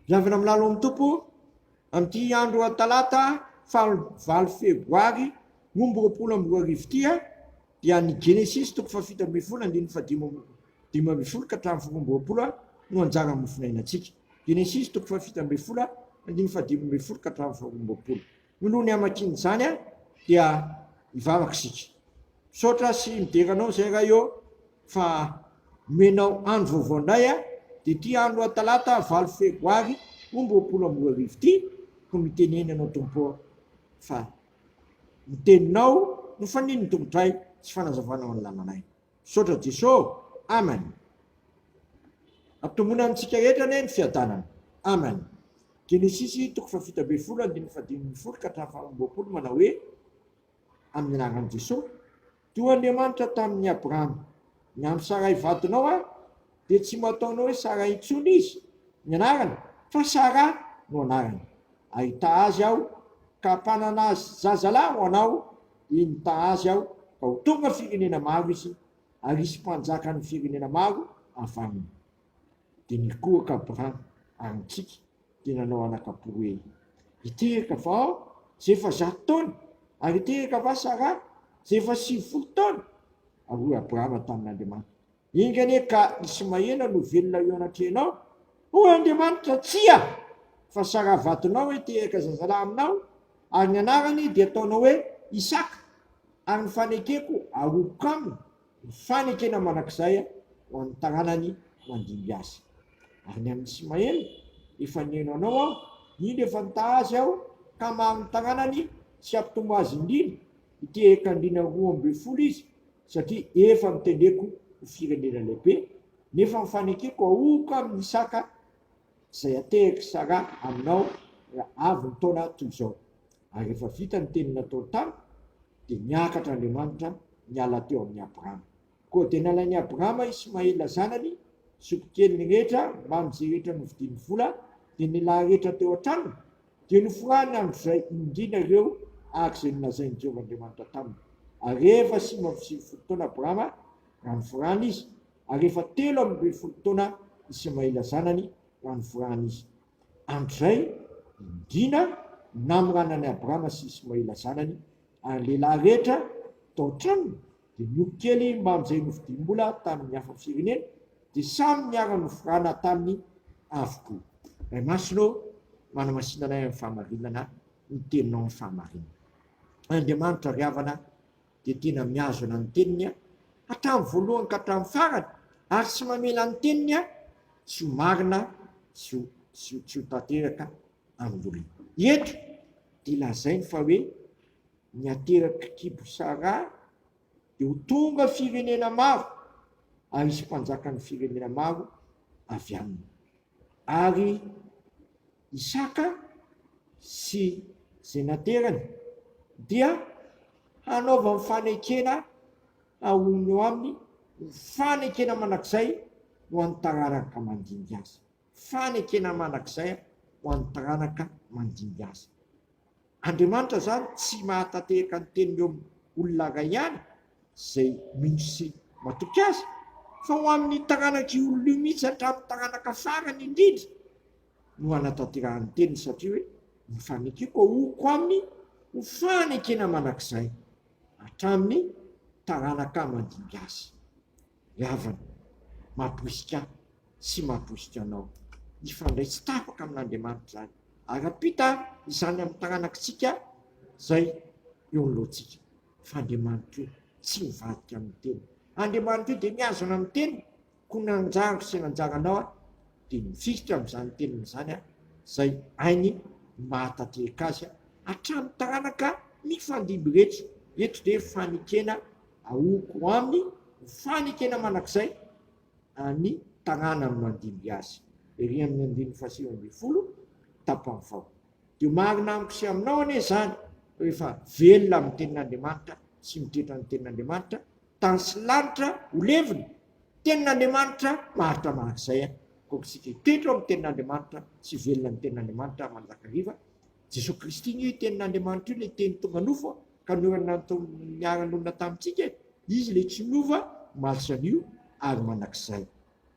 Miangona amin'ny lalon'ny Tompo amin'ity andro Talata faha-valo Febroary roa amby roapolo amby roa arivo ity dia ny Genesisy toko fahafito ambin'ny folo andininy fahadimy dimy ambin'ny folo ka hatramin'ny folo amby roapolo no anjaran'ny mofinainantsika. Genesisy toko fahafito ambin'ny folo andininy fahadimy ambin'ny folo ka hatramin'ny faharoa amby roapolo. Nolony hamakiana izany an dia hivavaka isika. Misaotra sy midera anao izay Ray ô fa nomenao andro vaovao indray an dia ity andro atalata valo febroary roa amby roapolo amby roa arivo ity no mitenena anao Tompo ô fa ny teninao no fanin'ny tompotray sy fanazavanao ny lalanay. Misaotra Jeso, Amen. Ampitomboina amintsika rehetra anie ny fiadanana. Amen. Genesisy toko fahafito ambin'ny folo andininy fahadimy ambin'ny folo ka hatramin'ny faharoa amby roapolo manao hoe, Amin'ny anaran'i Jeso, toa Andriamanitra tamin'i Abrahama, ny an'i Saray vadinao aho, dia tsy mba ataonao hoe Sara intsony izy, ny anarany, fa Sara no anarany. Ahita azy aho, ka hampanana zazalahy ho anao, Eny ta azy aho ka ho tonga firenena maro izy ary hisy mpanjaka ny firenena maro avy aminy. Dia nikohaka Abraham ary nitsiky dia nanao anak'apo hoe, Hiteraka va aho izay efa zato taona? Ary hiteraka va Saraha izay efa sivifolo taona? Ary hoy Abraham tamin'Andriamanitra, Enga anie ka Ismaela no velona eo anatrehanao. Hoy Andriamanitra, Tsia! fa sara-vatonao hitehaka zazalahy aminao, ary ny anarany dia ataonao hoe Isaka, ary ny fanekeko harokoka aminy ny fanekena mandrakizay ho an'ny taranany mandimby azy. Ary ny an'i Ismaela, efa nihaino anao aho, indro efa nitaha azy aho, ka maro ny taranany, tsy hampitombo azy indrindra, hitehaka andriana roa ambin'ny folo izy, satria efa notendreko ho firenena lehibe, nefa ny fanekeko ahoako aminy ny saka izay atehaky Sara aminao raha avy ny taona toy izao. Ary rehefa vita ny teny nataony tamiko, dia niakatra Andriamanitra niala teo amin'i Abrama. Koa dia nalain'i Abrama Ismaela zanany, zokikeliny rehetra, mbamin'izay rehetra novidiany vola, dia ny lahy rehetra teo an-tranony, Dia noforahany androzay indrindra ireo araka izay nolazain'i Jehovah Andriamanitra taminy. Ary rehefa sivy amby sivifolo taona Abrahama, raha noforahana izy, ary efa telo amby ny folo taona Ismaela zanany, raha noforahana izy. Androzay indrindra namoranan'i Abrahama sy Ismaela zanany, ary ny lehilahy rehetra tao an-tranony dia niory kely maro izay novidiam-bola tamin'ny hafa firenena dia samy niara-noforana taminy avokoa. Ray Masina ô, manamasina anay amin'ny fahamarinana ny teninao ny fahamarinana. Andriamanitra ry havana dia tena mihazona ny teniny hatramin'ny voalohany ka hatramin'ny farany ary tsy mamela ny teniny tsy ho marina sy tsy ho tanteraka amin'ny olona. Eto dia lazainy fa hoe Ny aterak'i Kibosarà dia ho tonga firenena maro ary hisy mpanjakan'ny firenena maro avy aminy. Ary Isaka sy izay naterany dia hanaovany fanekena haonony eo aminy ho fanekena mandrakizay ho an'ny taranaka mandimby azy. Fanekena mandrakizay ho an'ny taranaka mandimby azy. Andriamanitra izany tsy mahatatehaka ny teniny eo amin'ny olona iray ihany izay mino sy matoky Azy, fa ho amin'ny taranak'io olona io mihitsy hatramin'ny taranaka farany indrindra no hanatanterahany ny teniny, satria hoe, Ny fanekeko aohoko aminy ho fanekena mandrakizay hatramin'ny taranaka mandimby azy. ny havany, mahapoizika ahy sy mahapoizika anao. Hifandray tsy tapaka amin'Andriamanitra izany, ary hampita izany amin'ny taranakitsika izay eo anoloantsika. Fa Andriamanitra io tsy mivadika amin'ny teny. Andriamanitra io dia mihazona amin'ny teny, koa ny anjaro sy ny anjaranao dia mifikitra amin'izany teniny izany, izay hainy ny mahatanteraka azy hatramin'ny taranaka mifandimby rehetra. Eto dia fanekena Aoako aminy ho fanekena mandrakizay ny taranany mandimby azy. Ery amin'ny andininy fahasivy ambin'ny folo tapany faha. Dia marina amiko sy aminao anie izany rehefa velona amin'ny Tenin'Andriamanitra sy mitoetra ny Tenin'Andriamanitra, tany sy lanitra ho levona. Tenin'Andriamanitra maharitra mandrakizay akory isika hitoetra ao amin'ny Tenin'Andriamanitra sy velona amin'ny Tenin'Andriamanitra mandrakariva. Jesoa Kristy anie io tenin'Andriamanitra io ilay teny tonga nofo ka niara-nanonona tamintsika e! Izy ilay tsy miova omaly sy anio ary manak'izay.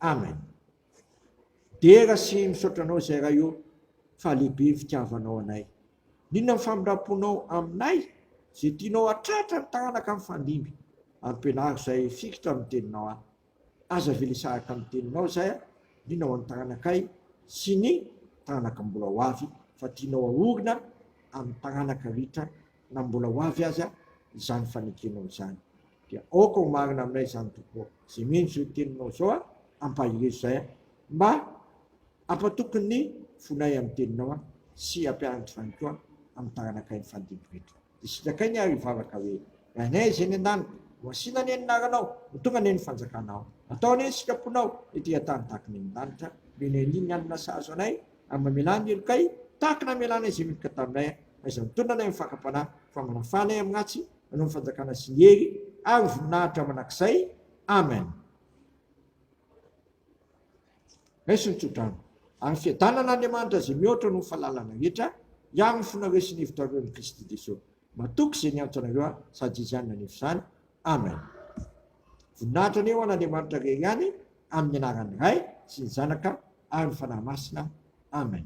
Amen. Dera sy misaotra anao izay Ray ô fa lehibe ny fitiavanao anay. N'inona ny famindramponao aminay izay tianao hatratra ny taranaka mifandimby. Ampianaro izay fikitra amin'ny teninao ahy. Aza avela sahaka ny teninao izay a, liana ho an'ny taranakay sy ny taranaka mbola ho avy fa tianao haorina amin'ny taranaka ritra na mbola ho avy aza izany fanekenao izany dia aoka ho marina aminay izany Tompo ô, izay mino izao teninao izao a, ampaherezo izay a, mba ampatoky ny fonay amin'ny teninao a, sy ampianatra izany koa amin'ny taranakay ny fandimbin-dry reto. Dia sitrakai ny ary hivavaka hoe, Ry Anay izay eny an-danitra, hohasina anie ny anaranao, ho tonga anie ny fanjakanao. Atao anie ny sitraponao ety an-tany tahaka ny eny an-danitra. Omeny anie ny hanina sahaza anay, ary mamelà ny helokay tahaka ny namelanay izay miloka taminay, fa izay mitondra anay amin'ny fakam-panahy, fa manafaha anay amin'ny ratsy, hanao ny fanjakana sy ny hery ary ny voninahitra mandrakizay. Amen. Raiso ny tsodrano, ary fiadanana Andriamanitra izay mihoatra noho ny fahalalana rehetra, hiaro ny fonareo sy ny hevitrareo amin'i Kristy Jesosy. Matoky izay niantso anareo aho, sady izany nanefa izany. Amen. Voninahitra anie ho an'Andriamanitra rery ihany, amin'ny anaran'ny Ray, sy ny Zanaka, ary ny Fanahy Masina. Amen.